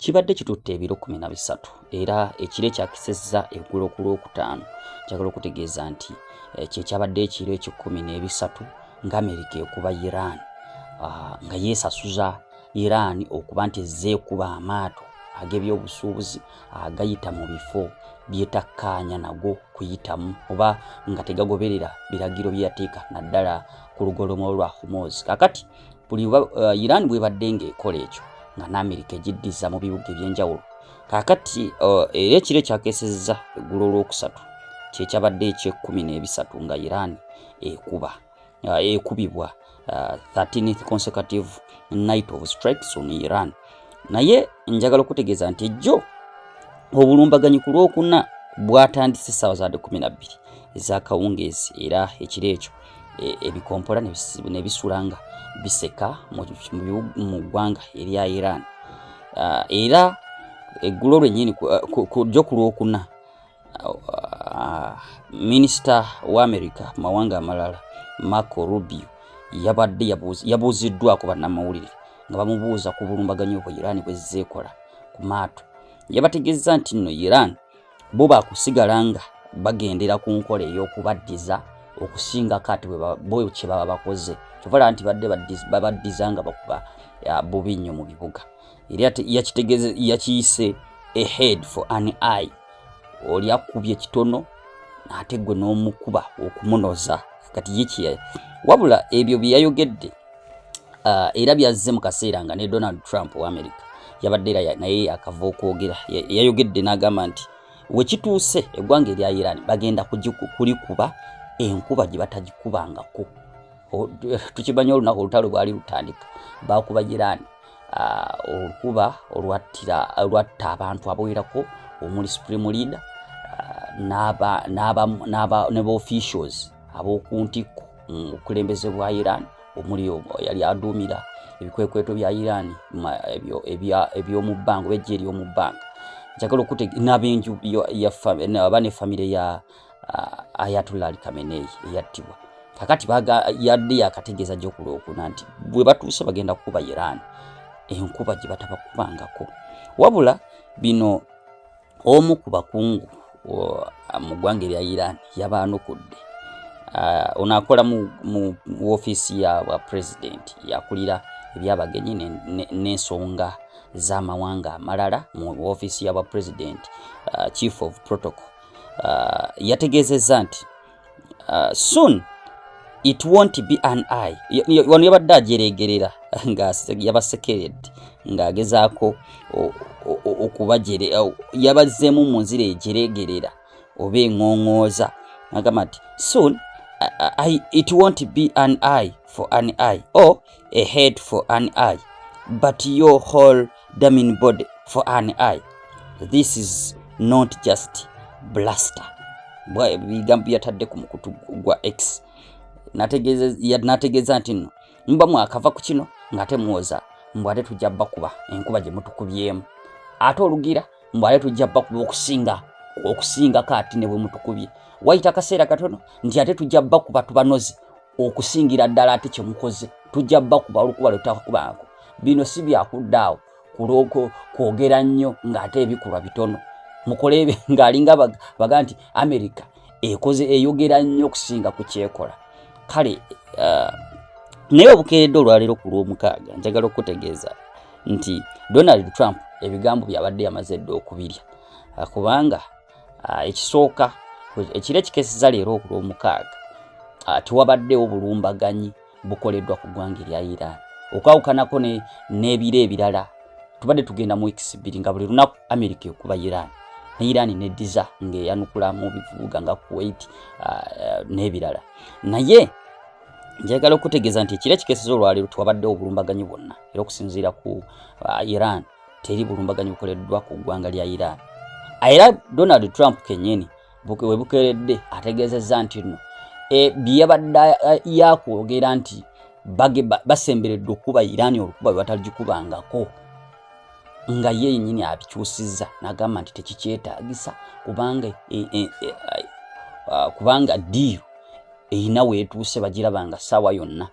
kibadde kitutte ebiro kumi na bisatu era ekiro ekyakisezza eggulo ku lwokutaano kyagala okutegeeza nti eh, kyekyabadde ekiro ekikumi n'ebisatu nga amerika ekuba iran ah, nga yeesasuza iran okuba nti ezze ekuba amaato ag'ebyobusuubuzi agayita mu bifo byetakkaanya nago kuyitamu oba nga tegagoberera biragiro bye yateeka naddala ku lugolomolo lwa humozi kakati buli uh, iran bwebadde ng'ekola ekyo nga n'amerika egiddiza mu bibuga eby'enjawulo kaakati uh, era ekiro ekyakesezza eggulo olwokusatu kyekyabadde ekyekkumi n'ebisatu nga iran ekuba uh, ekubibwa 13th consecutive night of strikes on iran naye njagala okutegeeza nti ejjo obulumbaganyi ku lwokuna bwatandise essaawa za 12 ezakawungeezi era ekiro ekyo e, ebikompola ne bisula nga biseka mu ggwanga erya Iran uh, era eggulo lwennyini kujjo ku lwokuna uh, minisita wa amerika mu mawanga amalala marco rubio yabadde yabuuziddwako bannamawulire nga bamubuuza ku bulumbaganyi obwo iran bwezzeekola ku maato yabategeezza nti nno iran bo bakusigala nga bagendera ku nkola ey'okubaddiza okusinga kati bo kye baba bakoze kyovala nti badde babaddiza nga bakuba bubi nnyo mu bibuga era yakitegeze yakiyise a head for an eye oli akubye kitono ate gwe n'omukuba okumunoza kati ye kye wabula ebyo bye yayogedde uh, era byazze mu kaseera nga ne donald trump wa america yabadde era naye yakava okwogera yayogedde n'agamba nti wekituuse eggwanga erya iran bagenda kulikuba enkuba gye batagikubangako tukimanyi olunaku olutalo bwali lutandika bakuba iran uh, olukuba olwatta abantu abawerako omuli supreme leader uh, ne baofficials ab'oku ntikko mm, obukulembeze bwa iran omuli yali aduumira ebikwekweto bya iran ebyomu bbanga oba ejje eryomu bbanga njagala okute n'abenju aba ne famire ya uh, ayatullah ali kameneyi eyattibwa kakati yadde yakategeeza gyo ku lwokuna nti bwe batuuse bagenda kukuba iran enkuba gye batabakubangako wabula bino omu ku bakungu mu ggwanga erya iran yabaanukudde ah, ono akola mu ofiisi ya bwa pulezidenti yakulira ebyabagenyi n'ensonga z'amawanga amalala mu ofiisi ya bwa pulezidenti ah, chief of protocol ah, yategeezezza nti uh, soon it won't be an eye wano yabadde ajeregerera nga yabasekeredde ng'agezaako okubajere yabazzeemu mu nzira ejeregerera oba eŋoŋooza agamba nti soon I, it won't be an eye for an eye or a head for an eye but your whole damn body for an eye this is not just blaster bwa ebigambo byatadde ku mukutu gwa x nategeeza nti no muba mwakava ku kino ng'ate muwoza mbu ate tujja bakuba enkuba gye mutukubyemu ate olugira mbu ate tujja bakuba okusinga okusingako ati ne bwe mutukubye wayita akaseera katono nti ate tujja bakuba tubanozi okusingira ddala ate kye mukoze tujja bakuba olukuba lwe tutakubanko bino si byakuddaawo kulwoko kwogera nnyo ng'ate ebikulwa bitono mukole ng'alinga baga nti amerika ekoze eyogera nnyo okusinga ku kyekola kale uh, naye obukeedde olwaleero ku lw'omukaaga njagala okutegeeza nti donald trump ebigambo byabadde yamaze dda okubirya uh, kubanga Ah, ekisooka ekiro ekikeseza leero oku lwomukaaga ah, tewabaddewo bulumbaganyi bukoleddwa ku ggwanga erya iran okwawukanako n'ebiro ebirala tubadde tugenda mu weeks bbiri nga buli lunaku america ekuba iran ne iran nediza ngaeyanukula mu bivubuga nga kuwait ah, eh, n'ebirala naye njagala okutegeeza nti ekiro ekikeseza olwaleero tewabaddewo obulumbaganyi bwonna era okusinziira ku iran teri bulumbaganyi bukoleddwa ku ggwanga lya Iran. Era Donald Trump kennyini we bukeeredde ategeezezza nti no e, bye yabadde yakwogera nti basemberedde okukuba Iran olukuba lwe bataligikubangako nga ye yennyini abikyusizza n'agamba nti tekikyetaagisa kubanga e, e, e, kubanga diiru erina weetuuse bagiraba nga ssaawa yonna